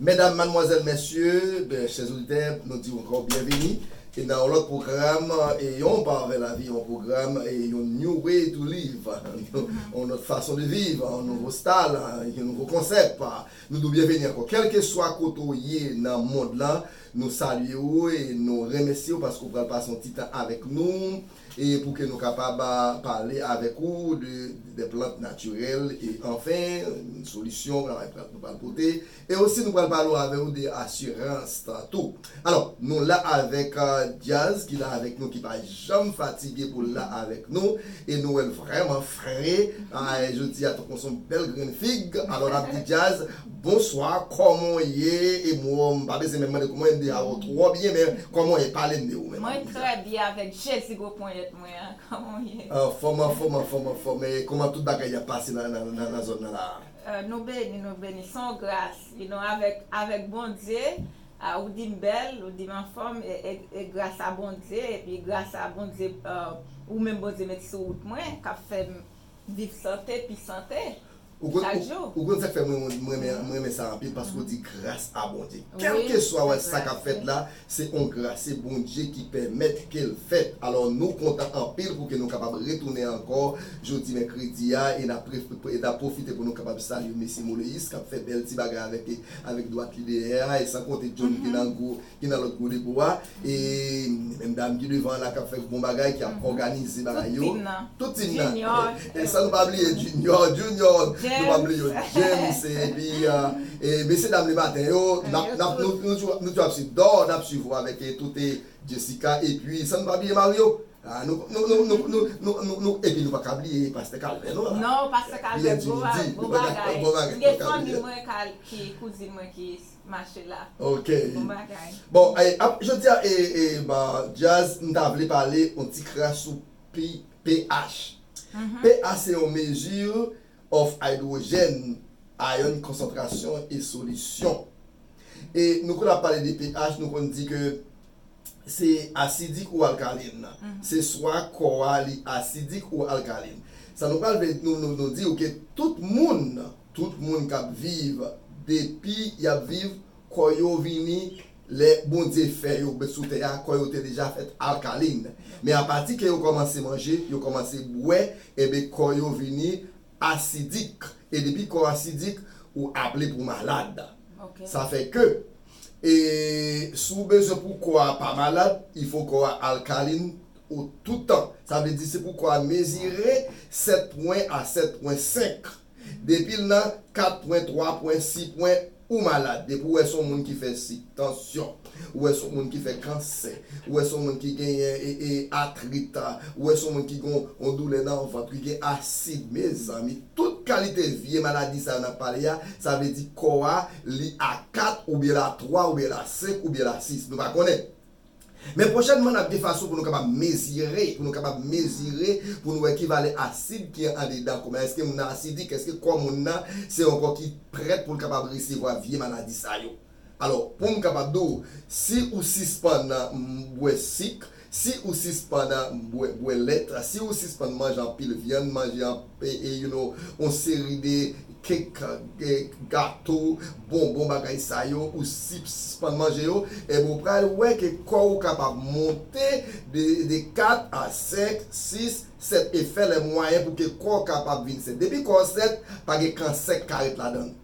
Medam, madmwazèl, mèsye, chèz oditè, nou di w ankò byenvini nan yon lòt pwogram Yon pa vè lavi, yon pwogram, yon new way to live, yon lòt fason de viv, yon nouvo style, yon nouvo konsèp. Nou di w byenvini ankò. Kèlkeswa kote w ye nan mond lan, nou salye w e nou remèsye w paske w pral pase yon ti tan avèk nou. e pou ke nou kapab pale avèk ou de dè plant natirèl e anfen solisyon travay plant nou pral pote e osi nou pral pale avè ou de asirans lan tou. Alò nou la avèk Dyaz ki la avèk nou ki pa janm fatige pou l la avèk nou e nou wè l vrèman fre jodi a tankou son bèl grenn fig alò n ap di Dyaz Bonswa kòman w ye e mou m pa bezwen menm mande kouman w ye m deja wè w twò byen men kòman w ye pale m de ou menm Mwen anfòm trè byen avèk Jezi gwo ponyèt mwen an kòman w ye? Anfòm anfòm anfòm anfòm e kòman tout bagay y ap pase nan zòn nan la a? Nou beni nou beni s on gras you know avèk avèk Bondye a ou di m bèl ou di m anfòm e gras a Bondye epi gras a Bondye ou menm Bondye met sou wout mwen k ap fè m Viv sante pi sante chak jou. Ou konn sak fè mwen mwen renmen sa anpil paske ou di gras a Bondye kelkeswa wè sa kap fèt la se yon gras se Bondye ki pèmèt kel fèt alò nou kontan anpil pouki nou kapab retounen ankò jodi mèkredi a e nap pwofite pou nou kapab salye mesye Moleyis kap fè bèl ti bagay avèk dwat li dèyè a e san konte John ki nan gwo ki nan lòt codeco a e menm dam ki devan an la kap fè bon bagay ki ap òganize bagay yo tout team nan e san nou pa bliye junior junior nou pa bliye yo James epi e mesye dam le maten yo nap nap nou toujou ap swiv Dor nap swiv ou avèk toute Jessica epi san nou pa bliye Mario a nou nou nou epi nou paka bliye pastè Calvin nou la Pierre Dimitri bon bagay m gen fanmi mwen ki kouzin mwen ki mache la ok bon bagay. Bon ap jodia epa djazz m ta vle pale on ti kras sou pH pH se yon mesure of hydrogène ion concentration e solution e nou konn ap pale de pH nou konn di ke se asidik ou alkalin se swa kò a li asidik ou alkalin sa nou pral vle nou di ou ke tout moun Tout moun kap viv depi yap viv kò yo vini lè Bondye fè yo bet sou tè a kò yo te deja fèt alkaline men apati ke yo kòmanse manje yo kòmanse bwè enben kò yo vini asidik e depi kò asidik ou aple pou malad sa fè ke e si w bezwen pou kò a pa malad il fo kò a alkaline ou toutan sa vle di se pou kò a mezire 7 pwen a 7 pwen 5. Depil nan 4 pwen 3 pwen 6 pwen ou malad depi ou wè son moun ki fè sik tansyon ou wè son moun ki fè kansè ou wè son moun ki genyen atrit ou wè son moun ki gen yon doulè nan vant ki gen asid mezanmi tout kalite vye maladi sa yo nap pale ya sa vle di kò a li a 4 oubyen la 3 oubyen la 5 oubyen la 6 nou pa konnen Men pwochènman n ap gen fason pou nou kapab mezire, pou nou kapab mezire pou nou wè ki valè asid ki andedan kò moun nan. Èske moun nan asidik? Èske kò moun nan se yon kò ki prèt pou l kapab resevwa vye maladi sa yo? Alò, pou m kapab di w, si ou sispann bwè sik, si ou sispann bwè lèt, si ou sispann manje anpil vyann, manje anpil. you know, yon seri de cake, gato, bonbon bagay sa yo ou sispann manje yo, enben ou pral wè ke kò ou kapab monte de 4 a 5, 6, 7 e fè lè mwayen pou ke kò kapab vin sèt. Depi kò sèt, pa gen kansè ki ka ret ladan l.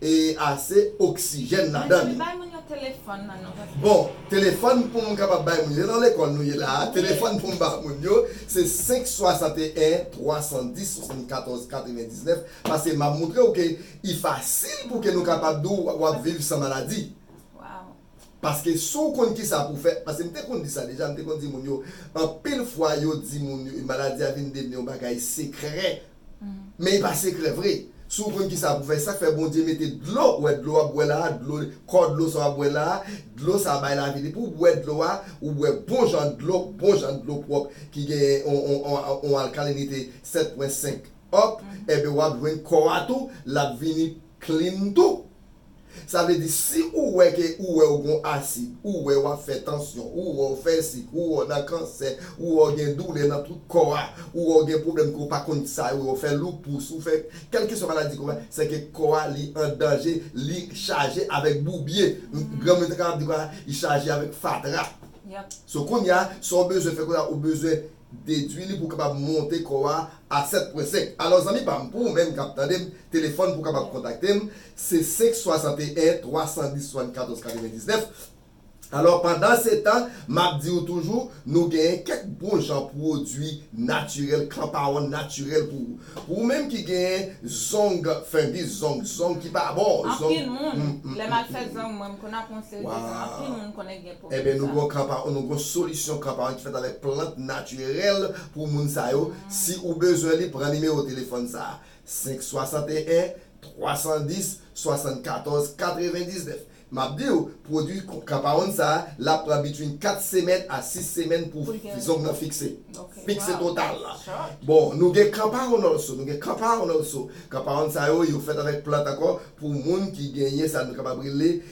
e ase oksijèn ladan li. Bay moun yo telefòn nan non paske. Bon, telefòn pou m kapab bay moun yo, se nan lekòl nou ye la a, telefòn pou m ba moun yo se 5 61 310 74 99 paske m ap montre w ke i fasil pou ke nou kapab di w w ap viv san maladi. Waww. Paske si w konn kisa pou w fè, paske m te konn di sa deja, m te konn di moun yo anpil fwa yo di moun yo maladi a vin devni yon bagay sekrè Men e pa sekrè vre. Si w konn kisa pou fè, sak fè Bondye mete dlo, ou wè dlo wap bwè la a, dlo, kò dlo sa wap bwè la a, dlo sa a bay lavi depi w bwè dlo a, ou bwè bon jan dlo, bon jan dlo pwòp ki gen yon alkalinite 7 pwen 5 up, enben wap jwenn kò a tou lap vini clean tou. Sa vle di si ou wè ke ou wè ou gon asid, ou wè wap fè tansyon, ou wè ou fè sik, ou wè ou nan kansè, ou wè ou gen doulè nan tout kò a, ou wè ou gen pwoblèm ke ou pa konn kisa yo ye, ou fè loupous, ou fè kelkeswa maladi ke ou fè, se ke kò a li an danje, li chaje avèk boubye. Granmoun yo te kapab di kò a li chaje avèk fatra. So kounya sa ou bezwen fè kounya ou bezwen. Dedwi li pou w kapab monte kò a a 7 pwen 5. Alò zanmi pa m pou ou menm k ap tande m, telefòn pou w kapab kontakte m se 5 61 310 74 99. Alò pandansetan m ap di ou toujou nou genyen kèk bon jan pwodui natirèl, kanpawonn natirèl pou ou. Pou ou menm ki genyen zong fengis, zong, zong ki pa bon, zong. Anpil moun, lè m al fè zong mwen m konn ap yon seri de zong, anpil moun konnen gen. Enben nou gen yon kanpa, nou gen yon solisyon kanpa ki fèt avèk plant natirèl pou moun sa yo, si ou bezwen li pran nimewo telefòn sa, 561 310 74 99 map diw pwodwi kanpawoun sa lap pran between 4 semèn a 6 semèn pou zong nan fikse, fikse total bon nou gen kanpawoun also, nou gen kanpawoun also, kanpawoun sa yo yo fèt avèk plant ankò pou moun ki genyen sa nou kapab rele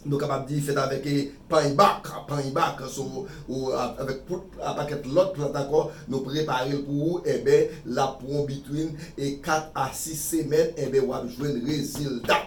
Nou kapab di fèt avèk pany bak, pany bak so avèk poud a pakèt lòt plant ankò nou prepare l pou ou enben l ap pran w bitwin 4 a 6 semèn enben w ap jwenn rezilta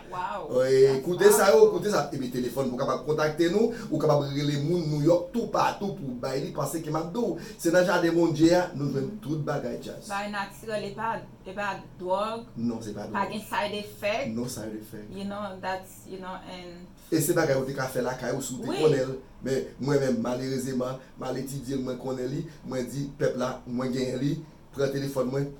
koute sa yo koute sa epi telefòn pou w kapab kontakte nou ou kapab rele moun Nouyòk toupatou pou w bay li pase ke m ap di w se nan jaden Bondye a nou jwenn tout bagay djaz. Bagay natirèl e pa dwòg non se pa dwòg pa gen side effect non side effect you know that's. you know and. E se bagay ou te ka fè lakay ou si ou te konnen l men mwen menm malerezeman m al etidye l mwen konnen li mwen di pèp la mwen genyen li pran telefòn mwen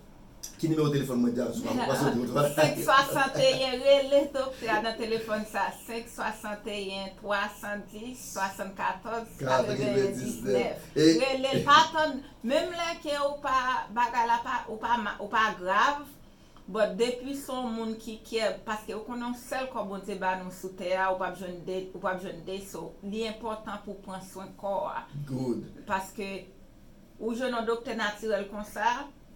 ki nimewo telefòn mwen Diab sou a mwen panse ou te wè. 561 rele doktè a nan telefòn sa 561 310 74 81 19 rele l pa tann menm lè ke ou pa bagay la pa ou pa grav But depi son moun ki kyè paske ou konnen yon sèl kò Bondye ba nou sou tè a ou pap jwenn 2 ou pap jwenn 2 so li enpòtan pou pran swen kò a Good. paske ou jwenn yon doktè natirèl konsa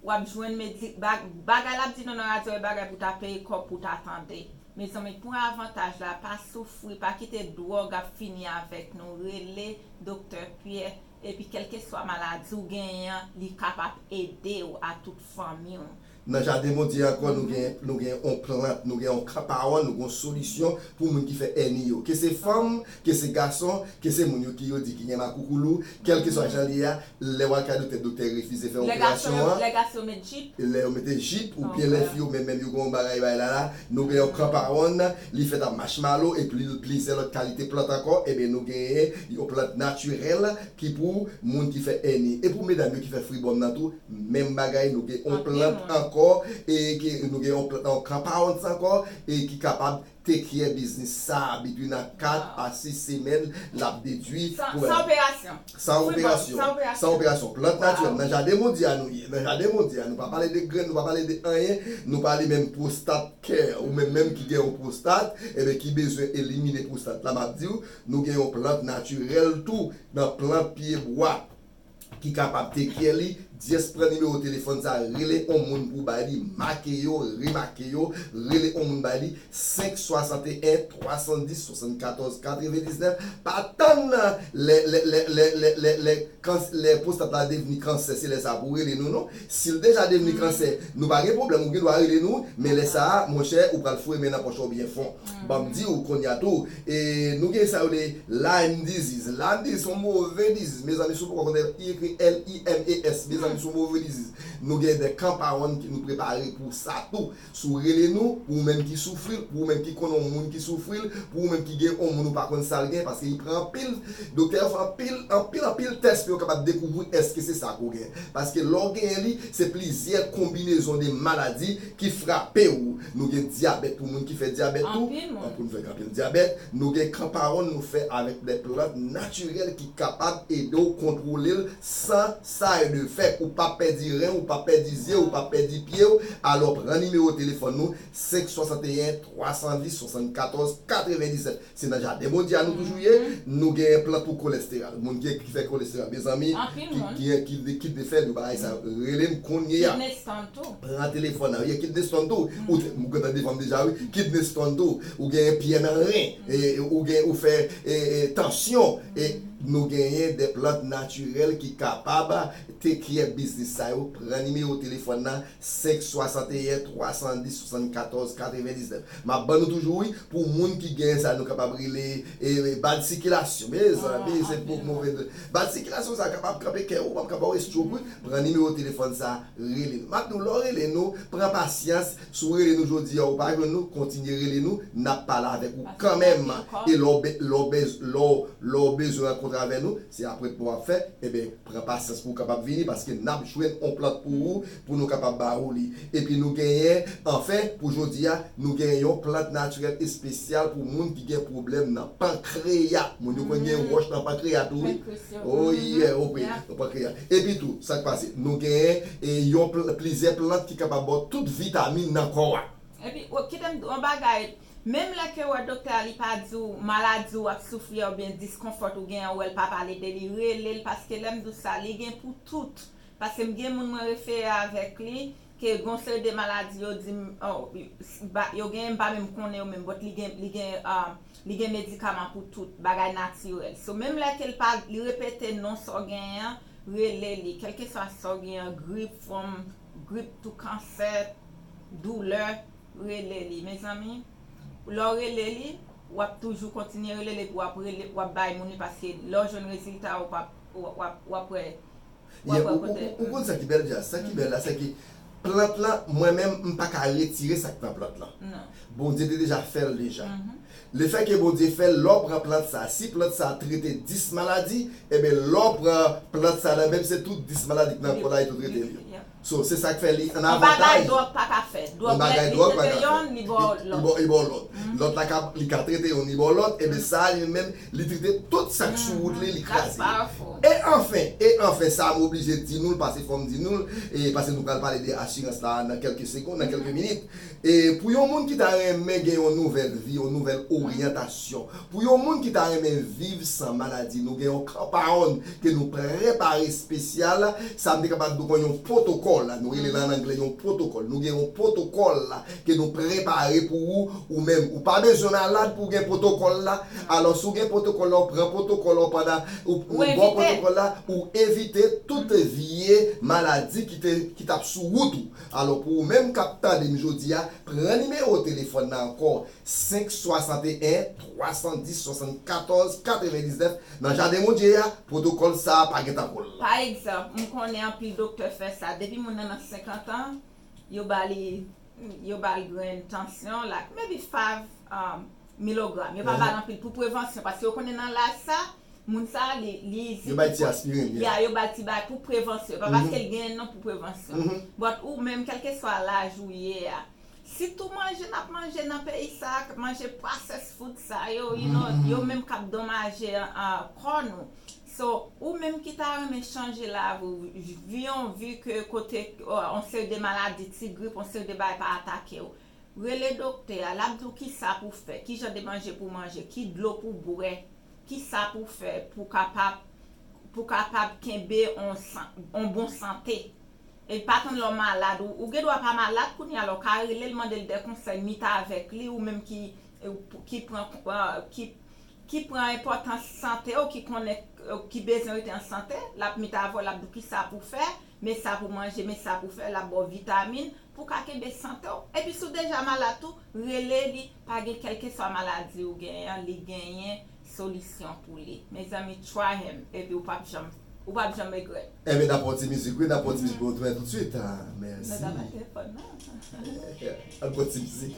wap jwenn medi bagay lap di nou nan radyo e bagay pou ta peye kòb pou ta tande mezanmi pran avantaj la pa soufri pa kite dwòg ap fini avèk nou rele doktè Pyè epi kèlkeswa maladi ou genyen an li kapap edew a tout fanmiw Nan jaden Bondye an ankò nou gen nou gen yon plant, nou gen yon kanpawòn, nou gen yon solisyon pou moun ki fè èni yo. Ke se fanm, ke se gason, ke se moun yo ki yo di ki gen makoukoulou, kèlkeswa jan l ye a, lè w al kay doktè, doktè refize fè operasyon an. Lè gason yo met jip. Lè yo mete jip, oubyen lè fi yo menm menm yo gen yon bagay bay la la, nou gen yon kanpawòn, li fèt a machmalo e pli plizyè lòt kalite plant ankò, enben nou genyen yon plant natirèl ki pou moun ki fè èni. E pou medam yo ki fè fribòm nan tou, Menm bagay nou gen on plant ankò e ki nou gen on plant nan on compounds ankò e ki kapab take care biznis sa between a 4 a 6 semèn lap dedwi pou San operasyon San operasyon San operasyon plant natirèl nan jaden bondye a nou ye nan jaden bondye a nou pa pale de grenn nou pa pale de anyen nou pale menm pwostat kè ou menm menm ki gen on pwostat eben ki bezwen elimine pwostat la map diw nou gen on plant natirèl tou nan plant pye bwa. ki kapab take care li just pran nimewo telefòn sa rele on moun pou bay li make yo remake yo rele on moun bay li 5 61 310 74 99 pa tann nan lè lè lè lè lè lè lè kans lè pwostat la devni kansè se lè sa pou rele nou non sil deja devni kansè nou pa gen pwoblèm ou gen dwa rele nou men lè sa monchè ou pral foure men nan pòch ou byen fon banm diw kounya tou E nou gen sa yo rele Lyme disease. Lyme disease son move disease mezanmi si w poko konnen li ekri L-I-M-E-S mezanmi son move disease. Nou gen de kanpawonn ki nou prepare pou sa tou. Si w rele nou pou ou menm ki soufri l, pou ou menm ki konnen yon moun ki soufri l, pou ou menm ki gen yon moun ou pa konn sa l gen paske li pran anpil doktè yo fè anpil anpil anpil tès pou yo kapab dekouvri èske se sa ke w gen. Paske lè w genyen li se plizyè konbinezon de maladi ki frape ou nou gen dyabèt pou moun ki fè dyabèt tou an pou nou fè anpil dyabèt nou gen kanparon nou fè avèk de plant natirèl ki kapab ede w kontwole l san sa de fèt ou pap pèdi ren w ou pap pèdi zye w ou pap pèdi pye w alò pran nimewo telefòn nou 5 61 320 74 97 Se nan jaden Bondye a nou toujou ye nou gen plant pou kolesteral moun gen ki fè kolesteral mezanmi ki gen kidney fèl yo bagay sa relem konnyeya pran telefòn nan ye kidney stone tou ou te ou gentan devanm deja wi kidney stone tou ou gen pyè nan ren ou gen ou fè tansyon nou genyen de plant natirèl ki kapab take care biznis sa yo pran nimewo telefòn nan 561 310 74 99 map ban nou toujou wi pou moun ki gen sa nou kapab rele bad sikilasyon mezanmi se pou move nouvèl bad sikilasyon sa kapab kanpe kè ou map ka baw estroke wi pran nimewo telefòn sa rele nou map diw lè w rele nou pran pasyans si w rele nou jodi a ou pa jwenn nou kontinye rele nou nap pale avèk ou kanmèm e lè w lè w lè w bezwen rankontre avè nou se apwentman wap fè enben Pran pasyans pou w kapab vini, paske n ap jwenn on plant pou ou, pou nou kapab ba ou li. Epi nou genyen, anfen, pou jodi a, nou genyen yon plant natirèl espesyal pou moun ki gen pwoblèm nan pankreya. Moun yo konn gen wòch nan pankreya tou wi. Oh yè, ok, nan pankreya. Epi tou, sa k pase? Nou genyen yon, plizyè plant ki kapab ba w tout vitamin nan kò a. Epi, kite m di w on bagay, Menm lè kew wè doktè a li pa diw maladi ou ap soufri a oubyen discomfort ou gen an ou wèl pa pale de li relel paske lèm diw sa li gen pou tout paskem gen moun mwen refere avèk li ke gon seri de maladi yo dim yo genyen mpa menm konnen yo menm but li gen li gen li gen medikaman pou tout bagay natirèl so menm lè kel pa li repete non sa w genyen an rele li kelkeswa sa w genyen an grip fwom grip tou kansè doulè rele li mezanmi lè w rele li wap toujou kontinye rele l epi wap rele wap bay moun li paske lè w jwenn rezilta ou pap wap wè wap wè kote Ou konn sa ki bèl djaz sa ki bèl la sèke plant lan mwen menm m pa ka retire sa k nan plant lan Bondye te deja fè l deja lefèke Bondye fè l lè w pran plant sa si plant sa trete 10 maladi eben lè w pran plant sa nan menm se tout 10 maladi k nan kò la li tou trete l yo. So se sak fè li an avantaj. Yon bagay dròg pa ka fè. Yon bagay dròg pa ka fè. Li trete yonn, li ba w lòt. Li ba w lòt. Lòt la ka, li ka trete yonn, li ba w lòt, eben sa a li menm, li trete tout sak sou wout li, li kraze yo. That's powerful. E anfen, e anfen, sa a m oblije di nou l, pase fò m di nou l, e pase nou pral pale de asirans la a nan kèlke segonn, nan kèlke minit. E pou yon moun ki ta renmen gen yon nouvèl vi, yon nouvèl oryantasyon, pou yon moun ki ta renmen viv san maladi, nou gen yon kanpaòn ke nou prepare espesyal. Sa m te kapab di w kon yon pwotokòl, nou rele l an angle yon pwotokòl. Nou gen yon pwotokòl ke nou prepare pou ou, ou menm. Ou pa bezwen malad pou w gen pwotokòl la. Alò, si w gen pwotokòl la, w pran pwotokòl la, w pandan ou bwè pwotokòl la, ou evite tout vye maladi ki te, ki t ap sou wout ou. Alò pou ou menm kap tande m jodi a, pran nimewo telefòn nan ankò 561 310 74 99 nan jaden Bondye a, pwotokòl sa a pa gen tankou l. Pa egzanp, m konnen anpil doktè fè sa, depi moun nan nan 50 an, yo ba li yo ba l grenn tansyon, like maybe 5 milogram, yo pa ba l anpil pou prevansyon, paske yo konnen nan laj sa, Moun sa a li di ki pou. Yo bay ti aspirin li a. Ya yo bal ti bagay pou prevansyon. E pa paske li genyen non pou prevansyon. But ou menm kelkeswa laj ou ye a. Si tou manje nap manje nan peyi sa a, manje processed food sa yo, you know, yo menm kap donmaje kò nou. So, ou menm ki ta renmen chanje lavi w, vi yon vi ke kote yon seri de maladi, ti grip, yon seri de bagay pa atake w. Rele doktè a, l ap di w kisa pou w fè, kijan de manje pou w manje, ki dlo pou w bwè, kisa pou w fè pou w kapab pou w kapab kenbe on san on bon sante. E pa tann lè w malad, ou gen dwa pa malad kounya la, ou ka rele l mande l dè konsèy ni ta avèk li ou menm ki ki pran ki ki pran enpòtans sante w, ki konnen ki bezwen rete an sante, l ap mit avè w, l ap di w kisa pou w fè, Men sa pou manje, men sa pou fè, l ap ba w vitamin pou w ka kenbe sante w. Epi si w deja malad tou, rele li, pa gen kèlkeswa maladi ou genyen an, li genyen solisyon pou li. Mezanmi try him epi w p ap janm, ou p ap janm regrèt. Enben n ap pran yon ti mizik wi, n ap pran yon ti mizik pou nou tounen toutswit. Mèsi. Nou ta bay telefòn nou. An n pran ti mizik.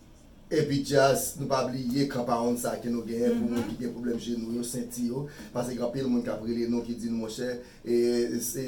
Epi Jazz nou pa bliye kanpawonn sa ke nou genyen pou moun ki gen pwoblèm jenou yo, senti yo, pase gen anpil moun kap rele nou ki di nou monchè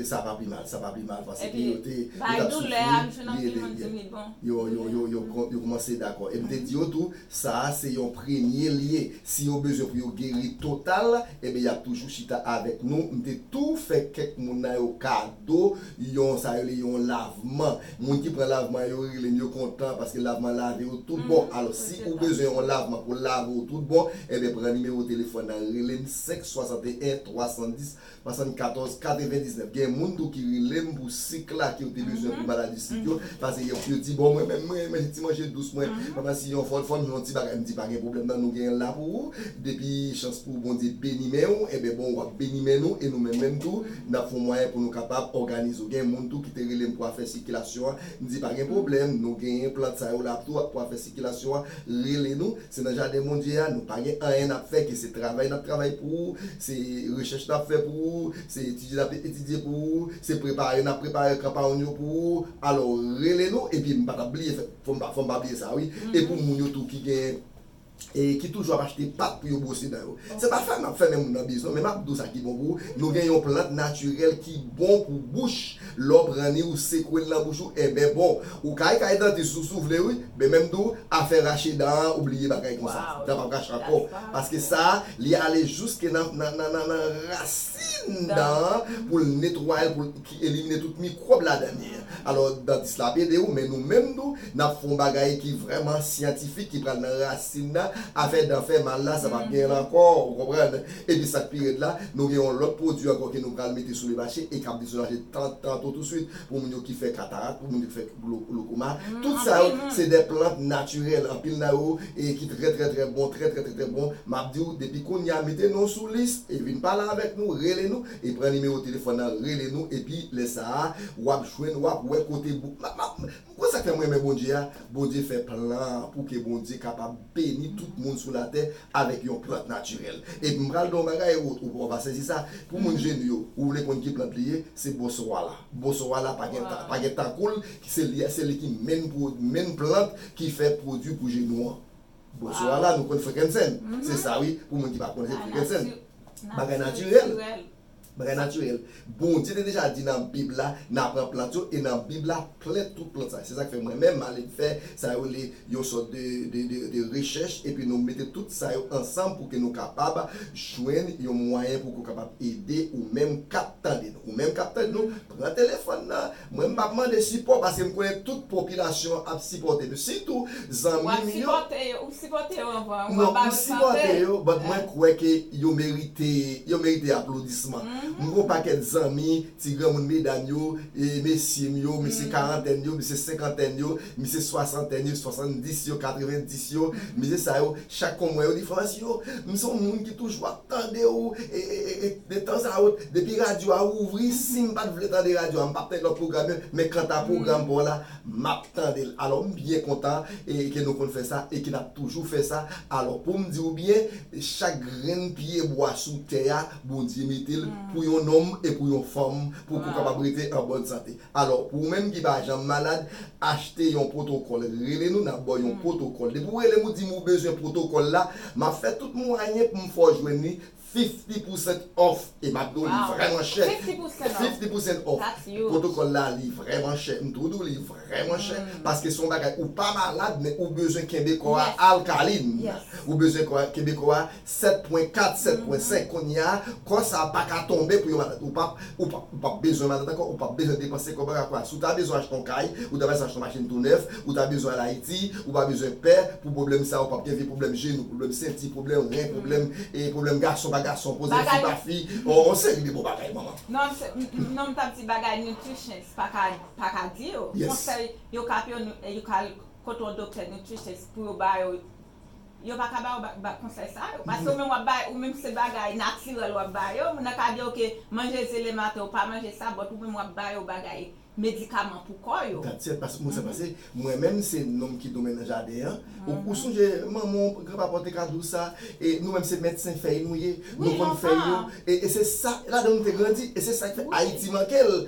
sa pa pi mal, sa pa pi mal paske yo te yo tap soufri li ede yo byen. Yo yo yo yo yo koumanse dakò. E m te di yo tou sa a se yon premye lye, si yo bezwen pou yo geri total enben yap toujou chita avèk nou, m te tou fè kèk moun nan yo kado yon sa rele yon lavman Moun ki pran lavman yo relem yo kontan paske lavman lave yo tout bon alò si ou bezwen yon lavman pou lave w tout bon enben pran nimewo telefòn nan relem 5 61 310 74 99 gen moun tou ki relem pou sik la ke yo te bezwen pou maladi sik yo pase yo yo di bon mwen menm mwen renmen ti manje dous mwen mwen si yon fòl fòm yon ti bagay m di pa gen pwoblèm nan nou genyen l la pou ou depi chans pou Bondye beni men w enben bon wap beni men nou e nou menm menm tou n ap fè yon mwayen pou nou kapab òganize w. Gen moun tou ki te rele m pou afè sikilasyon an, m di pa gen pwoblèm, nou genyen plant sa yo la tou pou afè sikilasyon an, rele nou, se nan jaden Bondye a, nou pa gen anyen n ap fè ke se travay n ap travay pou ou, se rechèch n ap fè pou ou, se etidye n ap etidye pou ou, se prepare n ap prepare kanpaogn yo pou ou, alò rele nou, epi m pa t ap bliye fè, fò m pa bliye sa wi, e pou moun yo tou ki genyen. ki toujou ap achte pat pou yo bwose dan yo. Se pa sa n ap fè men moun nan biznon, men m ap di w sa ki bon pou ou, nou gen yon plant natirèl ki bon pou bouch, lè w pran ni ou sekwe l nan bouch ou, enben bon. Ou ka al kay dantis ou si w vle wi, men men m di w, afè rache dan an ou bliye bagay konsa, dan p ap rache ankò, paske sa a li ale jiske nan rasin dan an pou l netwaye l pou l. ki elimine tout mikwòb ladan li. Alò, dantis la ap ede ou, men nou menm tou, n ap fè yon bagay ki vrèman syantifik, ki pral nan rasin nan. Afè dan fè mal la, sa pap genyen l ankò, ou konprann. Epi sa k pi rèd la, nou gen yon lòt pwodui ankò ke nou pral mete sou le mache e k ap dedomaje tantantou tousuit pou moun yo ki fè katarak, pou moun yo ki fè glokoma. Tout sa yo, se de plant natirèl. Anpil nan yo e ki trè trè trè bon, trè trè trè trè bon. M ap di ou, depi kounye a, mete non w sou lis e vin pale avèk nou, rele nou. E pran nimewo telefòn nan rele nou epi lè sa a wap jwenn wap wè kote book map map ou konn sak fèm renmen Bondye a Bondye fè plan pou ke Bondye kapab beni tout moun sou latè avèk yon plant natirèl epi m pral di w yon bagay ou va sezi sa pou moun jenn yo ou vle konn ki plant li ye se bosowala bosowala pa gen pa gen tankou l se li se li ki menn pro menn plant ki fè pwodui pou jenou an bosowala nou konn frenkensèn se sa wi pou moun ki pa konn se frenkensèn. Bagay natirèl. Bagay natirèl. Bondye te deja di nan bib la nan pran plant yo e nan bib la plen tout plant sa. Se sak fè mwen menm m ale m fè sa yo rele yon sòt de rechèch epi nou mete tout sa yo ansanm pou ke nou kapab jwenn yon mwayen pou ke w kapab ede ou menm k ap tande nou. Ou menm k ap tande nou pran telefòn nan Mwen m pap mande sipò paske m konnen tout popilasyon an ap sipòte m sitou zanmi m yo. Ou sipòte yo anvan ou ap ba yo sante. Non m sipòte yo but mwen kwè ke yo merite yo merite aplodisman. M gen yon pakèt zanmi ti granmoun medam yo, mesye m yo, mesye karantèn yo, mesye senkantèn yo Misye swasantèn yo, swasantdis yo, katrevendis yo, misye sa yo, chak fwa m wè yo diferans yo. M se yon moun ki toujou ap tande ou e de tan a wot, depi radyo a ouvri, si m pa t vle tande radyo a, m pa p tande lòt pwogram yo, men kanta pwogram pa w la, m ap tande l. Alò m byen kontan e ke nou konn fè sa e ke n ap toujou fè sa. Alò pou m di ou byen, chak grenn pyebwa sou tè a, Bondye mete l pou yon nonm e pou yon fanm pou ke w kapab rete an bòn sante. Alò, pou ou menm ki pa janm malad, achte yon pwotokòl. Rele nou, n ap ba w yon pwotokòl. Depi ou rele m, ou di m ou bezwen pwotokòl la, m ap fè tout mwayen pou m fè w jwenn li, fifty percent off, e m ap di w li vrèman chè. Fifty percent off. Pwotokòl la, li vrèman chè. M tou di w li vrèman chè, paske se yon bagay, ou pa malad, men ou bezwen kenbe kò a alkaline. Ou bezwen kenbe kò a 7.4, 7.5, Kounye a, kò sa a pa ka tonbe pou yon malad. Ou pap, ou pap, ou pap bezwen malad ankò, ou pap bezwen depanse kòb ankò. Akwè a, si w ta bezwen achte yon kay, ou ta bezwen achte yon machin tou nèf, ou ta bezwen al Ayiti, ou pa bezwen pè pou pwoblèm sa a, ou pap gen vye pwoblèm jenou, pwoblèm senti, pwoblèm ren, pwoblèm, e, pwoblèm gason pa gason poze, fi pa fi, yon, yon seri de bon bagay, manman. Non, se, m, m, non, m t ap di bagay nutritious pa ka, pa ka di yo. Yes. Konsèy yo ka ap yo, yo ka al kote yon doktè nutritious pou yo ba yo Yo pa ka ba ou ba konsèy sa yo. Paske ou menm wap bay, ou menm se bagay natirèl wap ba yo. Moun nan ka di yo ke manje ze le maten ou pa manje sa but ou menm wap ba yo bagay medikaman pou kò yo. Dat sèt pas mou sa pase. Mwen menm se nonm ki domen nan jaden an. Ou sonje manman w, gran papa w te ka di w sa. E nou menm se medsen fèy nou ye. Nou konn fèy yo. E se sa ladan nou te grandi. E se sak fè Ayiti manke l.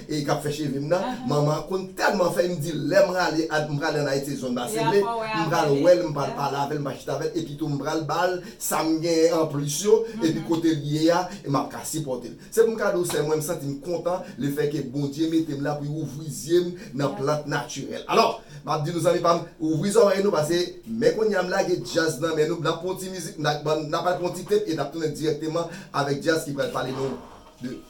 e kap fè chevem nan manman konn tèlman fè em di lèm rale m prale an ayiti se zòn base ble m pral wèl m pral pale avèl m pral chita avèl epi tou m pral bal sam genyen anplis yo epi kotel ye a e map ka sipòtel se pou m ka di w sèm mwen m santim kontan le fè ke bondye metem la pou li ouvri zyem nan plant natirèl alò map di nou zanmi pam ouvri zòrèy nou pase men konnya m lage djaz nan men nou nap pran yon ti mizik nap al pran yon ti tep e nap tounen dirèkteman avèk djaz ki pral pale nou de.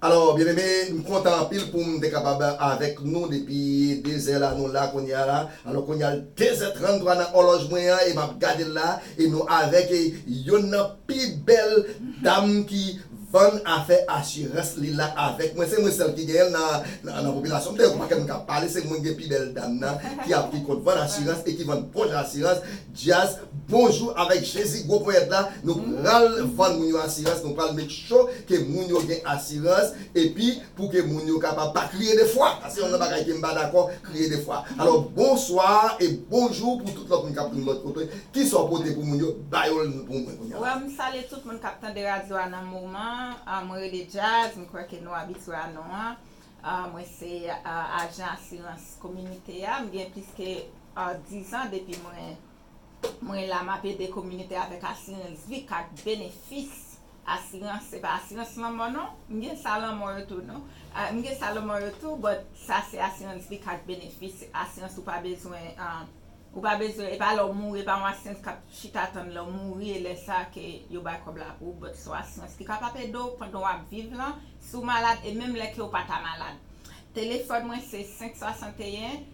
Alò byeneme, m kontan anpil pou m te kapab avèk nou depi dezè la, nou la kounye a la. Alò kounye a l dezè tranntwa nan òlòj mwen an e m ap gade l la e nou avèk yonn nan pi bèl dam ki. Bann afè asirans li la avèk mwen se mwen sèl ki genyenl nan popilasyon m dayè pou pakèt moun kap pale se mwen ki gen pi bèl dam nan ki ap ki konn vann asirans e ki vann pòch asirans dyaz bonjou avèk jezi gwo ponyèt la nou pral vann moun yo asirans nou pral make sure ke moun yo gen asirans epi Pou ke moun yo kapab pa kriye de fwa. Sa se yon nan bagay ke m pa dakò, kriye de fwa. Alò, bonswa e bonjou pou tout lòt moun kap tande m lòt kote. Kisa w pote pou moun yo? Ba yo l pou mwen kounya. Wè, m salye tout moun kap tande radyo a nan moman an. Mwen rele Djaz, m kwè ke nou abitye a non an. Mwen se ajan asirans kominite a. M gen plis ke 10 an depi mwen. Mwen la map ede kominite avèk asirans vi kat benefis asirans se pa asirans lanmò non m gen sa lanmò yo tou non m gen sa lanmò yo tou but sa se asirans vi kat benefis se asirans ou pa bezwen ou pa bezwen e pa lè w mouri e pa yon asirans kap chita tann lè w mouri e lè sa ke yo bay kòb la pou ou but son asirans ki kapab ede w pandan wap viv lan si w malad e menm lè ke w pata malad telefòn mwen se 5 61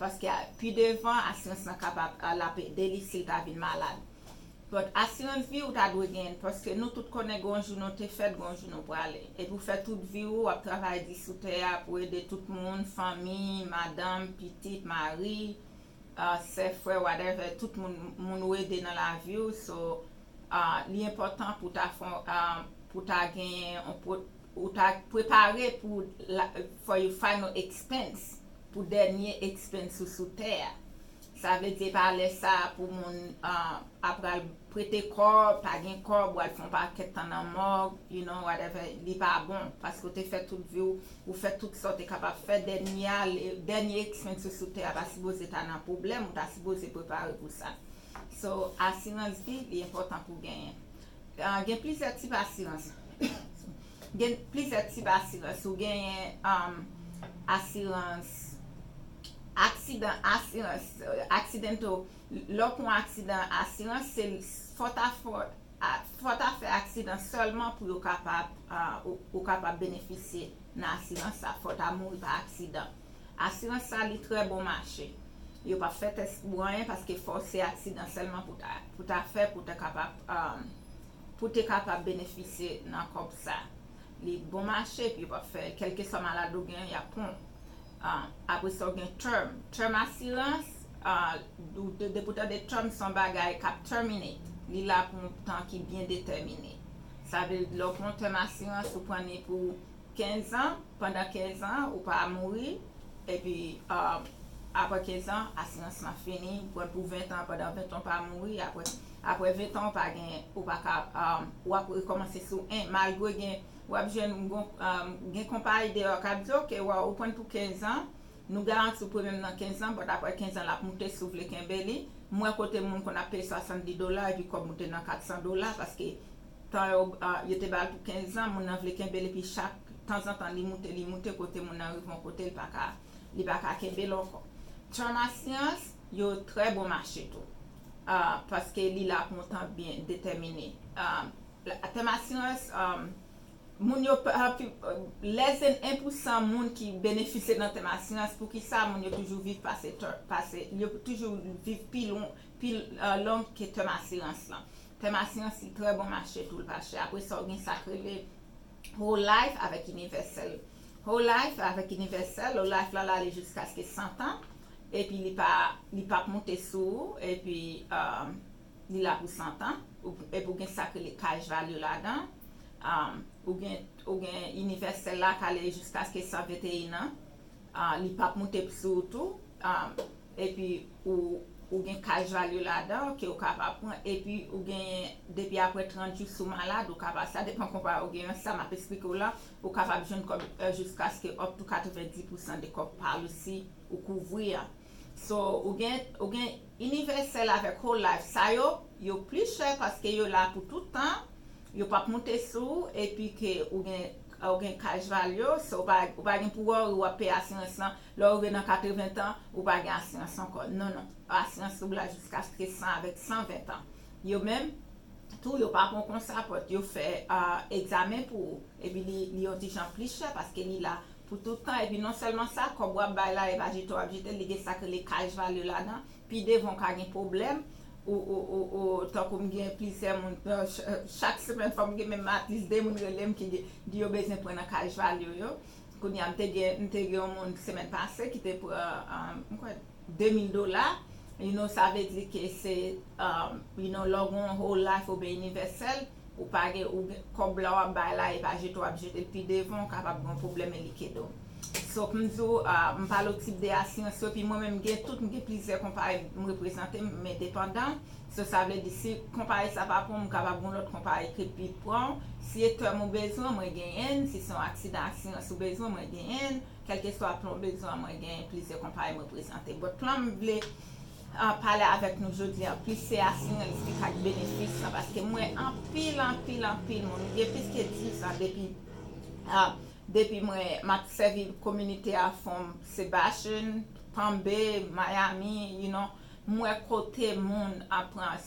Paske pi devan asirans lan kapab l ap ede li si l ta vin malad. But asirans vi ou ta dwe genyen paske nou tout konnen gen yon jou nou te fèt gen yon jou nou prale. Epi w fè tout vi ou ap travay di sou tè a pou ede tout moun, fanmi, madanm, pitit, mari, sè, frè whatever tout moun moun ou ede nan lavi w so li enpòtan pou w ta fè pou w ta genyen yon ou ta prepare pou for your final expense. Pou dènye expense ou sou tè a. Sa vle di e pa lè sa a pou moun ap pral prete kò, pa gen kòb, ou al fè yon pakèt tan nan mòg, you know, whatever, li pa bon. Paske ou te fè tout vi w, ou fè tout sa w te kapab fè, dènye a, dènye expense ou sou tè a pa sipoze ta nan pwoblèm, ou ta sipoze prepare pou sa. So, asirans vi, li enpòtan pou genyen. Gen plizyè tip asirans. Gen plizyè tip asirans. Ou genyen asirans aksidan, asirans aksidanto. Lè w pran aksidan, asirans se fò ta fò, fò ta fè aksidan sèlman pou yo kapab, ou kapab benefisye nan asirans sa. Fò ta mouri pa aksidan. Asirans sa li trè bon mache. Yo pap fè tès pou anyen paske fò se aksidan sèlman pou ta fè pou ta kapab. Pou te kapab benefisye nan kòb sa. Li bon mache epi yo pap fè kèlkeswa malad ou gen yap pran w. Apre sa ou gen term. Term asirans, depi ou tande term se yon bagay kap terminate. Li la pou yon tan ki byen detèmine. Sa vle lè ou pran yon term asirans ou pran ni pou 15 ans. Pandan 15 an ou pa mouri epi aprè 15 an asirans lan fini ou pranl pou 20 an pandan 20 an ou pa mouri aprè 20 an ou pa gen ou pa ka ou ap rekomanse sou 1 malgre gen wap jwenn gen konpayi deyò kap di ok ou prann pou 15 an nou garantiw premyem nan 15 an but aprè 15 an lap moute si ou vle kenbe li m wè kote moun konn ap peye 70 dola epi kòb moute nan 400 dola paske Tan yo yo te ba l pou kenzan, moun nan vle kenbe l epi chak tanzantan li moute li moute kote moun nan rive yon kote l pa ka li pa ka kenbe l ankò. Term asyans yo trè bon mache tou paske li la pou yon tan byen detèmine. Tèm asirans moun yo lès en pousan moun ki benefisye nan tèm asirans poukisa moun yo toujou viv pase yo toujou viv pi long ke tèm asirans lan Tèm a siyansi trè bon mache tou l pa chè. Apre sa ou gen sa k rele Whole Life avèk Inivèsèl. Whole Life avèk Inivèsèl, Whole Life la ale jiskaske santan epi li pa li pap moute sou ou epi li la pou santan epi ou gen sa k rele Cash Value ladan ou gen ou gen Inivèsèl la k ale jiskaske 121 an li pap moute sou ou tou. epi ou ou gen cash value ladan ke ou ka pa pran epi ou genyen depi aprè 30 jou si w malad ou ka pa sa depan konpayi ou genyen sa map esplike w la ou kapab jwenn kòb jiskaske up to 90 pousan de kòb policy ou kouvri a so ou gen ou gen inivèsèl avèk whole life sa yo yo pli chè paske yo la pou tout tan yo pap moute sou ou epi ke ou gen ou gen cash value so ou pa gen pou worry wap peye asirans lan Lè ou rive nan 80 tan, ou pa gen asirans ankò. Non, non. Asirans ou la jiskaske 100 avèk 120 tan. Yo menm tou, yo pa pran w kon sa pòt. Yo fè egzamen pou ou. Epi li yon ti jan plis chè paske li la pou tout tan. Epi non sèlman sa, kòb w ap bay la, e pa jete w ap jete l. Li gen sa yo rele cash value ladan. Pi devan ou ka gen pwoblèm. Ou tankou m gen plizyè moun, chak semèn fò m gen menm at lis 2 moun rele m ki di yo bezwen pran nan cash value yo. Kounye a, m te gen m te gen yon moun semèn pase ki te pran m kwè 2000 dola, you know sa vle di ke se you know lè w gen yon whole life oubyen inivèsèl ou pa gen ou gen kòb la w ap bay la e pa jete w ap jete l pi devan ou kapab gen yon pwoblèm e li kede w. So m di w m pale w tip de asirans yo epi mwen menm m gen tout m gen plizyè konpayi m reprezante m endepandan. So sa vle di si konpayi sa pa pranm m kapab gon lòt konpayi ki pi pran w, si e tèm ou bezwen mwen genyen n, si se yon aksidan asirans ou bezwen mwen genyen n, kèlkeswa plan w bezwen an mwen genyen plizyè konpayi mwen prezante. But plan m vle pale avèk nou jodi an plis se asirans ki ka k benefis lan paske m wè anpil anpil anpil moun m gen plis ke 10 zan depi depi mwen m ap sèvi kominite a fon m se Bashan, Palm Bay, Miami, you know. M wè kote moun ap pran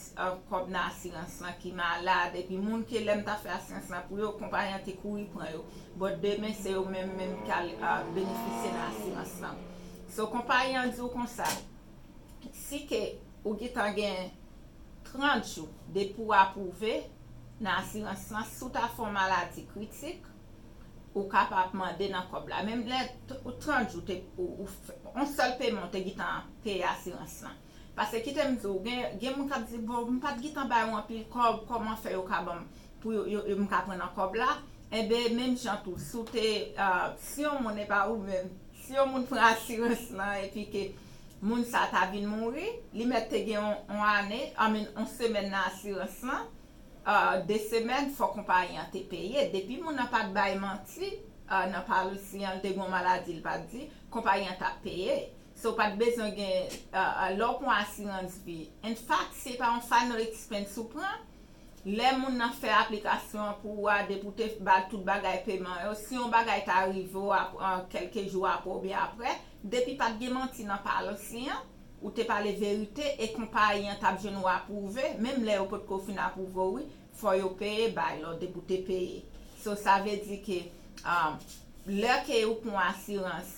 kòb nan asirans lan ki malad epi moun ke lè m ta fè asirans lan pou yo konpayi an te kouri pran yo but demen se yo menm menm ki al benefisye nan asirans lan so konpayi an di w konsa si ke ou gitan gen 30 jou depi w apwouve nan asirans lan si w ta fè yon maladi kritik. Ou ka pa ap mande nan kòb la menm lè 30 jou te ou fè yon sèl peman ou te gitan peye asirans lan pase kite m di w gen moun k ap di bon m pa t gitan bay ou anpil kòb kòman fè yo ka ban m pou yo m ka pran nan kòb la enben menm jan tou si w te si yon moun epa ou menm si yon moun pran asirans lan epi ke moun sa ta vin mouri li mèt te gen yon ane I mean yon semèn nan asirans lan. 2 semèn fò konpayi an te peye, depi moun nan pat bay manti nan palsi an li te gon maladi li pat di, konpayi an tap peye, so ou pat bezwen gen lè ou pwan asirans vi, in fact si e pa yon final expense ou pran, lè moun nan fè aplikasyon an pou ou a depi ou te bal tout bagay peman yo, si yon bagay ta rive ou kèlke jou aprè oubyen aprè, depi pat gen manti nan palsi an, Ou te pale verite e konpayi an tap jwenn ou aprouve menm lè yo potko fin aprouve w wi fò yo peye bay lò depi w te peye so sa vle di ke lè ke ou pran yon asirans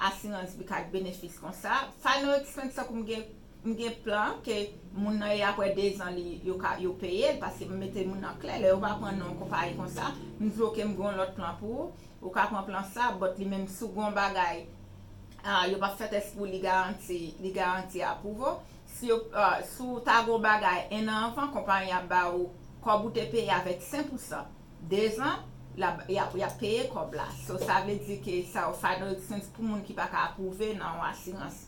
asirans bi ak benefis konsa final expense tankou m gen m gen plan ke moun nan e aprè 2 zan li yo ka yo peye l paske m mete moun nan klè lè yo pa pran non konpayi konsa m di w ok m gen yon lòt plan pou ou Ou ka pran plan sa but li menm si w gen yon bagay yo pap fè tès pou li garanti li garanti aprouvo si yo si w ta gen yon bagay 1 an anvan konpayi ap ba ou kòb ou te peye avèk 5 pousan 2 zan lap yap peye kòb la so sa vle di ke sa yo final expense pou moun ki paka aprouve nan yon asirans.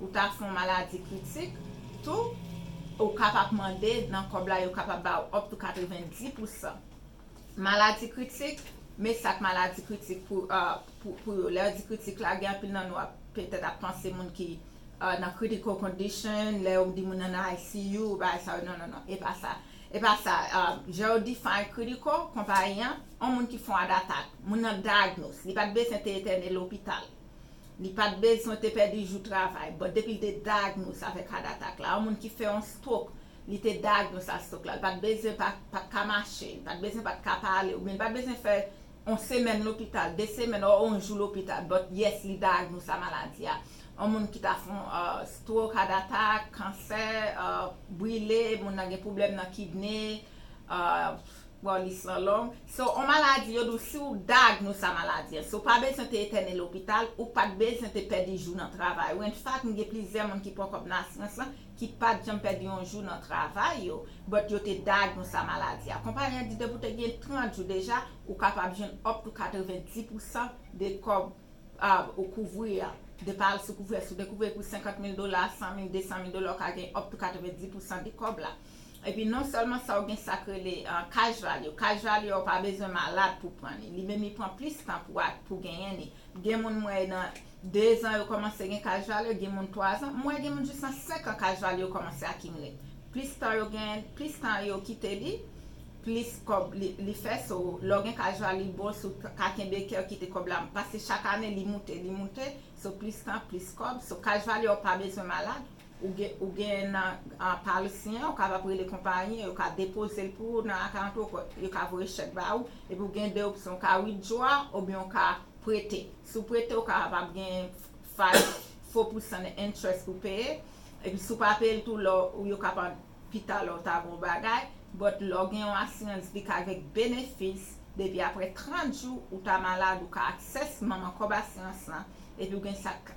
Ou ta fon maladi kritik tou ou ka pap mande nan kob la yo kapab ba ou up to 90 pou san maladi kritik me sak maladi kritik pou yo lè yo di kritik la gen anpil nan nou ap petèt ap panse moun ki nan critical condition lè yo di moun nan nan ICU bagay sa yo non non non epa sa epa sa jan yo define critical konpayi an on moun ki fon adatak moun nan diagnose li pat bezwen te etène lopital. Li pat bezwen te pèdi jou travay but depi li te diagnose avèk heart attack la yon moun ki fè yon stroke li te diagnose ak stroke la li pat bezwen pa pat ka mache li pat bezwen pat ka pale oubyen li pat bezwen fè yon semèn lopital de semèn or yon jou lopital but yes li diagnose a maladi a yon moun ki ta fon stroke heart attack kansè brile moun nan gen pwoblèm nan kidney bon lis lan long. Se on maladi yo di w si w dayagnose a maladi an, si w pa bezwen te etène lopital, ou pa t bezwen te pèdi jou nan travay ou. Enfak, m gen plizyè moun ki pran kòb nan asirans lan ki pa t janm pèdi on jou nan travay yo, but yo te dayagnose a maladi a. Konpayi an di depi w te gen 30 jou deja, ou kapab jwenn up to 90 pousan de kòb ou kouvri an. Depa al sou kouvè, si w te kouvri pou 50 mil dola, 100 mil, 200 mil dola, ou ka gen up to 90 pousan de kòb la. Epi non sèlman sa ou gen sak rele cash value, cash value a ou pa bezwen malad pou pran li, li menm li pran plis tan pou pou genyen li, gen moun m wè nan 2 zan yo kòmanse gen cash value, gen moun 3 zan, m wè gen moun jis nan 5 an cash value yo kòmanse akimile, plis tan yo gen, plis tan yo kite li, plis kòb li fè, so lè w gen cash value li bon si w ka kenbe kè w kite kòb la, paske chak ane li moute, li moute, so plis tan, plis kòb, so cash value a ou pa bezwen malad. Ou gen nan Palesyen an, ou kapab rele konpayi an, yo ka depoze l pou ou nan akant ou, yo ka voye chèk ba ou, epi ou gen 2 opsyon, ou ka withdraw oubyen ou ka prete. Si w prete, ou kapab gen 5 fo pousan nan interest pou w peye, epi si w pa peye l tou lè w yo kapab pita lè w ta gen yon bagay, but lè w gen yon asirans vi ka gen benefis depi aprè 30 jou ou ta malad ou ka access manman kòb asirans lan, epi ou gen sa k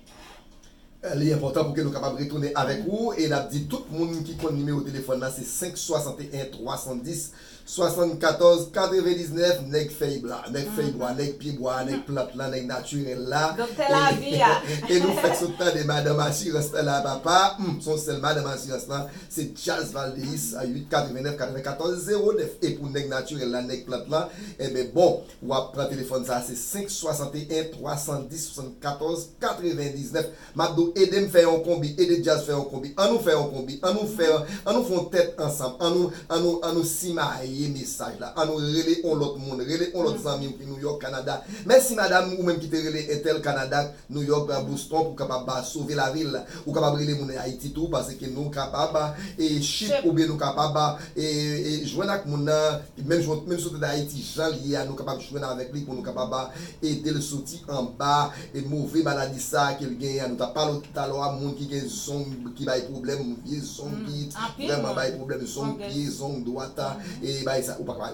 Li enpòtan pou ke nou kapab retounen avèk ou e n ap di tout moun ki konn nimewo telefòn nan se 561 310 74 99 nèg fèy bwa, nèg fèy bwa, nèg pye bwa a, nèg plant lan, nèg natirèl la e nou fèk sot tande madanm asirans nan la papa, m se yon sèl madanm asirans lan se Djaz Valdeyis 8 89 94 09 e pou nèg natirèl la, nèg plant lan, enben bon Wap pran telefòn sa se 5 61 310 74 99 map diw edem fè yon konbi ede djazz fè yon konbi an nou fè yon konbi an nou fè an nou fon tèt ansanm an nou an nou an nou simaye mesaj la an nou rele on lòt moun rele on lòt zanmiw ki nouyòk kanada mèsi madam ou menm ki te rele entèl kanada New York bra bo stop ou kapab sove lavil ou kapab rele moun ayiti tou paske nou kapab e ship oubyen nou kapab e jwenn ak moun nan menm jan menm si ou te dayiti janl ye a nou kapab jwenn avèk li pou nou kapab edel soti anba e move maladi sa kel genyen an nou tap pale w talò a moun ki gen zong ki bay pwoblèm vye zong ki vrèman bay pwoblèm zong pye zong dwat e bay sa ou pa ka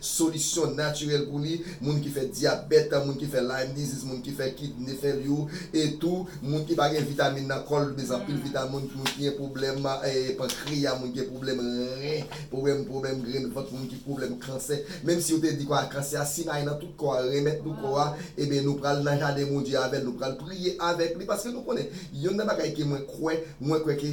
solisyon natirèl pou li, moun ki fè dyabèt, moun ki fè Lyme disease, moun ki fè kidney failure e tou moun ki pa gen vitamin nan kò l, li bezwen anpil vitamin, moun ki gen pwoblèm pankreya, moun ki gen pwoblèm ren, pwoblèm pwoblèm grenn vant, moun ki pwoblèm kansè, menm si yo te di kò a kansè a si bay nan tout kò a renmèt nou kò a, eben nou pral nan jaden Bondye avè l, nou pral priye avèk li paske nou konnen yonn nan bagay ke mwen kwè, mwen kwè ke.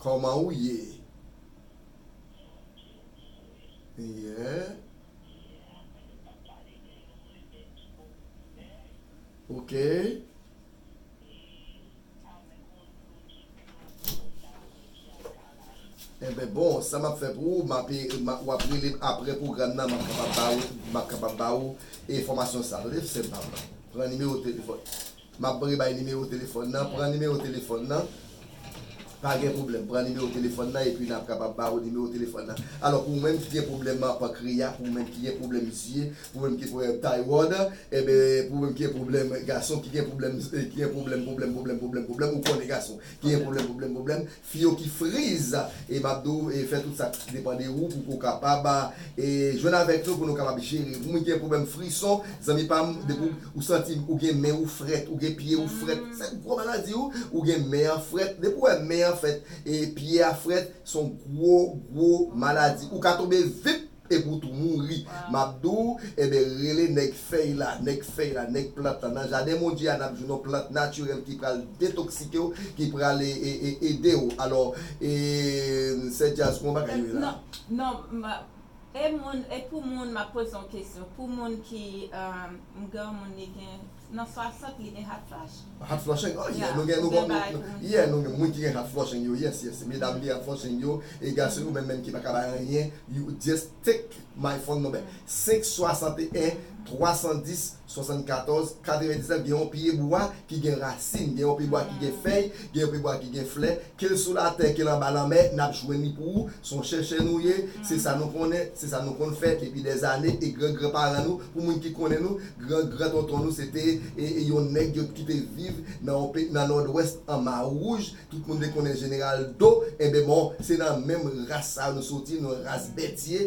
Koman ou ye? Yeah. Okay. Enben bon, sa m ap fè pou ou, m ape, w ap rele m apre pwogram nan, m ap kapab ba ou, m ap kapab ba ou enfòmasyon sa a. Tande, sèm pa m nan. Pran nimewo telefòn. Map pre bay nimewo telefòn nan pran nimewo telefòn nan pa gen pwoblèm pran nimewo telefòn nan epi nap kapab ba ou nimewo telefòn nan alò pou ou menm ki gen pwoblèm pankreya pou ou menm ki gen pwoblèm zye pou ou menm ki gen pwoblèm tayròd enben pou ou menm ki gen pwoblèm gason ki gen pwoblèm ki gen pwoblèm pwoblèm pwoblèm pwoblèm pwoblèm ou konnen gason ki gen pwoblèm pwoblèm pwoblèm Fi yo ki friz e map di w fè tout sak depan de ou pouki w kapab e jwenn avèk nou pou nou kapab jere ou gen pwoblèm frison zanmi pam depi ou santi ou gen men ou frèt ou gen pye ou frèt se gwo maladi wi ou gen men an frèt depi ou wè men an frèt e pye a frèt son gwo gwo maladi ou ka tonbe vip Epi ou tou mouri. M ap di w, Enben, rele nèg fèy la, nèg fèy la, nèg plant la. Nan jaden Bondye a, n ap jwenn yon plant natirèl ki pral detoksike w, ki pral ede w. Alò, Sè Djaz, kon bagay yo ye la? Non, e pou moun, m ap poze yon kesyon, pou moun ki, m granmoun li gen. Nan 60 li gen hot flash. Hot flushing oh yeah nou gen nou bon yeah nou gen moun ki gen hot flushing yo yes yes medam ki gen hot flushing yo e gason yo menm menm ki paka bay anyen you just take my phone number 5 61 310 74 99 gen yon pye bwa ki gen rasin gen yon pye bwa ki gen fèy gen yon pye bwa ki gen flè Ke l sou latè, ke l anba lanmè, n ap jwenn li pou ou, s on chèchè nou ye, se sa nou konnen, se sa nou konn fè depi dè zane, e gran gran paran nou, pou moun ki konnen nou, gran gran tonton nou se te yon nèg yo ki te viv nan yon peyi nan nòdwès an Mawouj, tout moun te konnen Jeneral Do, enben bon, se nan menm ras sa yo nou soti, nou ras Bètye.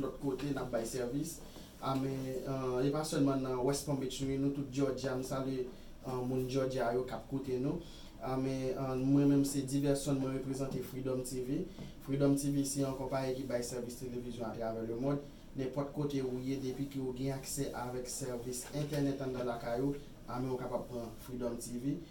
lòt kote nap bay sèvis a men e pa sèlman nan West Palm Beach wi nou tout Georgia m salye moun Georgia yo kap koute nou a men mwen menm se Diverson mwen reprezante Freedom TV Freedom TV se yon konpayi ki bay sèvis televizyon atravè le mond nenpòt kote ou ye depi ke ou gen aksè avèk sèvis entènèt anndan lakay ou a men ou kapab pran Freedom TV.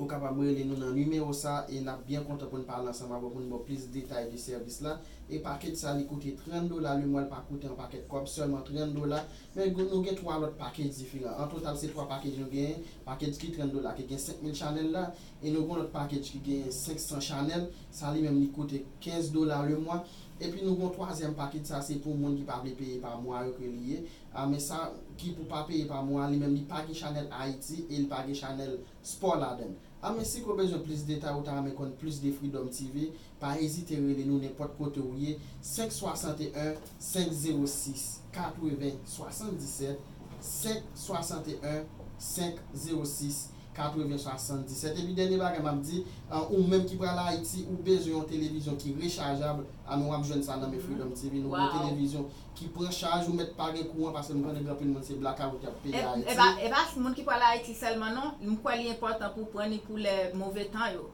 Ou kapab rele nou nan nimewo sa e n ap byen kontan pou n pale ansanm avè w pou n ba w plis detay de sèvis la. E pakej sa li koute 30 dola, lemwa l pa koute yon pakèt kòb, sèlman 30 dola. Men nou gen 3 lòt pakej diferan. An total se 3 pakej nou genyen, pakej ki 30 dola ki gen 5000 chanèl la e nou gen yon lòt pakej ki genyen 500 chanèl, sa li menm li koute 15 dola lemwa. Epi nou gen yon twazyèm pakej, sa se pou moun ki pa vle peye pa mwa yo ke li ye. Ah men sa ki pou pa peye pa mwa li menm li pa gen chanel Haiti e li pa gen chanel sport ladann. Ah men siko bezwen plis detay ou ta renmen konn plis de Freedom TV pa ezite rele nou nenpot kote ou ye 5 61 506 80 77 5 61 506 80 77 epi dènye bagay map di ou menm ki pral Haiti ou bezwen yon televizyon ki rechajab ah men wap jwenn sa nan men Freedom TV nou gen yon televizyon ki pran chaj ou mèt pa gen kouran paske m konnen gen anpil moun se blakawout yap peye ayiti. E pa moun ki pwale ayiti sèlman non m kwè li enpòtan pou pran li pou lè move tan yo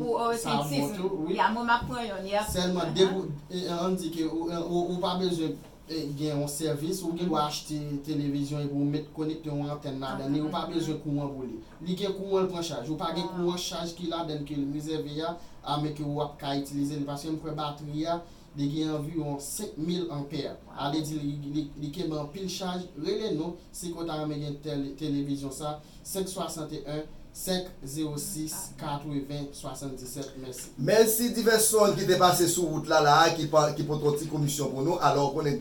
pou au retentisme ya mwen map pran yonn yep sèlman depi ou ann di ke ou pa bezwen gen yon sèvis ou gen dwa achte televizyon epi ou met konekte yon antèn ladan li ou pa bezwen kouran pou li li gen kouran l pran chaj ou pa gen kouran chaj ki ladan ke l rezève a ame ke ou ap ka itilize li paske m kwè batri a Li gen anviwon 5000 anpè, ale di li kenbe anpil chaj, rele nou si ke w ta renmen gen televizyon sa 561 506 80 77 mèsi. Mèsi divès sonn ki te pase sou wout la la a ki pote yon ti komisyon pou nou, alò ou konnen.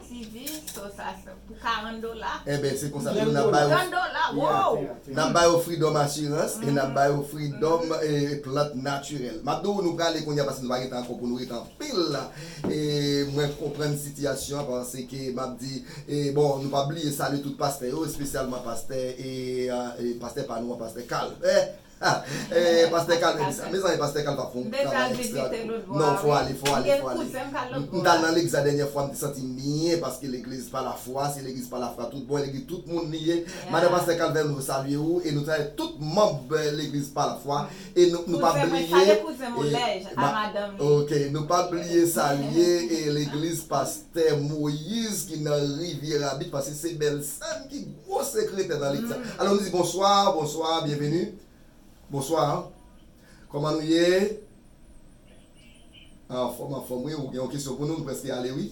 TV so sa pou 40 dola. Enben se konsa tou nap ba yo. 30 dola woo. Nap ba yo freedom assurance e nap ba yo freedom plant naturel. Map di w nou prale kounya paske nou pa gen tan ankò pou nou ret anpil la e mwen konprann sitiyasyon an paske map di e bon nou pa bliye salye tout pastè yo espesyalman pastè e pastè pa nou an pastè Carl. Pastè kal mèt di sa. Mezanmi pastè kal pap fon travay extra tou non fò ale fò ale fò ale m tal nan legza dènyè fwa m te santim byen paske legliz pa lafwa se legliz pa lafra tout bon legliz tout moun li ye madan pastè kalvè nou salye ou e nou salye tout manb legliz pa lafwa e nou pa bliye ok nou pa bliye salye legliz pastè. Tè Moïse ki nan Riviera Beach paske se bèl sèm ki gwo sekretè nan lit sa. Alò nou di bonswa, bonswa, byenveni. Bonswa. Kòman nou ye? Anfòm, anfòm wi. Ou gen yon kesyon pou nou? Nou prèske ale wi.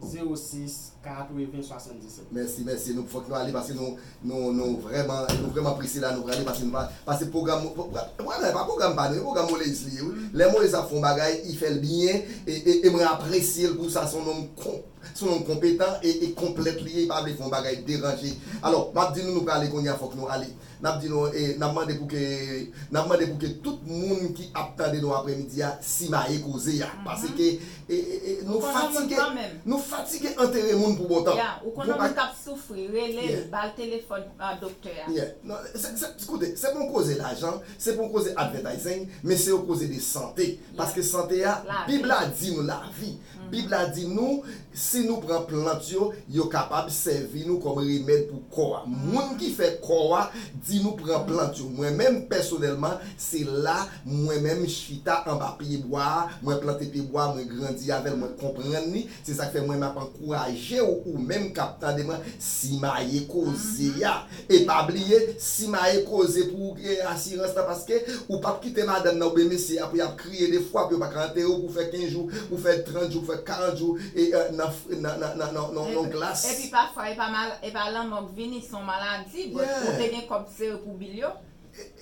06 80 77. Mèsi mèsi nou fòk nou ale paske nou nou nou vrèman nou vrèman prese la nou prale paske nou pa pase pwogram pwogram la epa pwogram pa nou e pwogram Moleis li ye wi lè Moleis ap fè yon bagay i fèl byen e e e mwen apresyel pou sa son nonm kon son nonm konpetan e e konplèt li ye i pa vle fè yon bagay deranje alò map di nou nou prale kounye a fòk nou ale. N ap di nou e n ap mande pou ke n ap mande pou ke tout moun ki ap tande nou aprè midi a simaye koze a paseke e e nou fatige nou fatige antere moun pou bon tan. Ya ou konn yon moun k ap soufri rele l ba l telefòn doktè a. Ya non se se koute se pa yon koze lajan se pa yon koze advètayzing men se yon koze de sante paske sante a bib la di nou lavi. Bib la di nou, si nou pran plant yo, yo kapab sèvi nou kòm remèd pou kò a. Moun ki fè kò a di nou pran plant yo. Mwen menm, pèsonèlman, se la mwen menm chita anba pyebwa a, mwen plante pyebwa a, mwen grandi avè l, mwen konprann li. Se sa k fè mwen m ap ankouraje w, ou menm k ap tande mwen, simaye koze a. E pa bliye simaye koze pou ou kreye asirans la paske ou pap kite madanm nan oubyen mesye a pou yap kriye de fwa pou yo paka antere w pou w fè 15 jou pou w fè 30 jou pou w fè 40 jou e nan nan yon glas. Epi pafwa epa mal epa lanmò k vini son maladi but ou te gen kòb sere pou bil yo.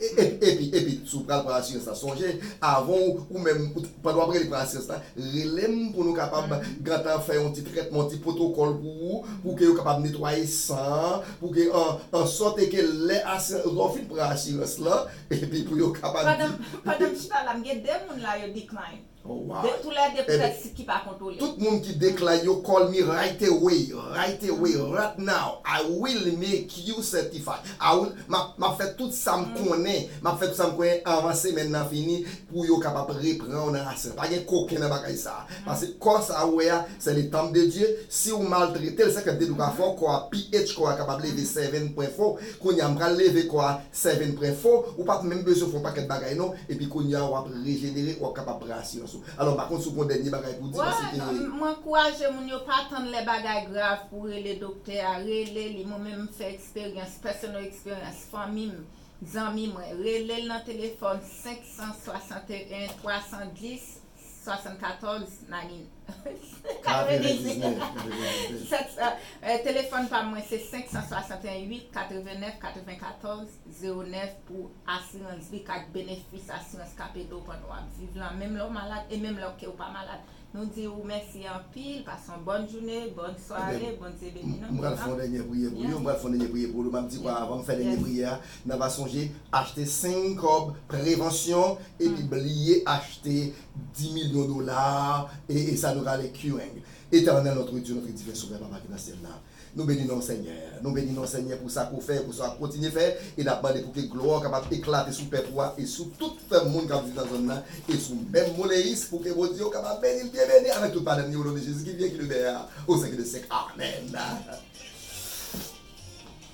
Epi, epi, si w pral pran asirans la, sonje, avan w, ou menm, ou, pandan w ap rele pran asirans la, rele m pou nou kapab gentan fè yon ti trètman, yon ti pwotokòl pou ou, pou ke yo kapab netwaye san an, pou ke an, an sòte ke lè asirans, lè w fin pran asirans lan, epi pou yo kapab di. Pandan, pandan m chita la, m gen 2 moun la yo decline. De koulè de pou fè sik ki pa kontwole. Tout moun ki decline yo call me right away right away right now I will make you certified I will map fè tout sam konnen map fè tout sam konnen anvan semèn nan fini pou yo kapab repranw nan asirans pa gen koken nan bagay sa paske kò sa ou wè a se le temple de Dieu siw maltretel se kèm te di ou ka fè kò a pnh kò a kapab leve 7 pwen fò kounya m pral leve kò a Seven pren fo, ou pat menm bezwen fè yon pakèt bagay non, epi kounya a wap rejenere, wap kapab pran asirans ou. Alò m pa konn si w gen yon dènye bagay pou w di paske ke. Bon, m ankouraje moun yo pa tann lè bagay grav pou rele doktè a, rele li, mwen menm m fè eksperyans, personal experience, fanmi m, zanmi mwen, rele l nan telefòn 561 310 74 nanin 99 telefòn pam mwen se 561 8 89 94 09 pou asirans vi ak benefis asirans kap ede w pandan wap viv lan menm lè w malad e menm lè w kew pa malad nou di ou mèsi anpil pase yon bòn joune bòn sware bondye beni nou. M pral fè yon dènyè priyè pou yo, m pral fè yon dènyè priyè pou Olo, map di kwa avan m fè dènyè priyè a. Nan va sonje achte 5 kòb prevansyon epi bliye achte 10 milyon dola e sa nou rale Kyueng Etènèl notre Dieu notre divin sovè papa ki nan syèl la nou beni nonw senyè nou beni nonw senyè pou sa ke w fè e pou sa wap kontinye fè e nap mande pou ke glwa w kapab eklate sou pèp ou a e sou tout fèm moun kap viv nan zòn nan e sou menm Moleis pou ke Bondye w kapab beni l byen beni avèk tout madam ni o non de Jezi ki vyen ki demeure o syèk de syèk amèn.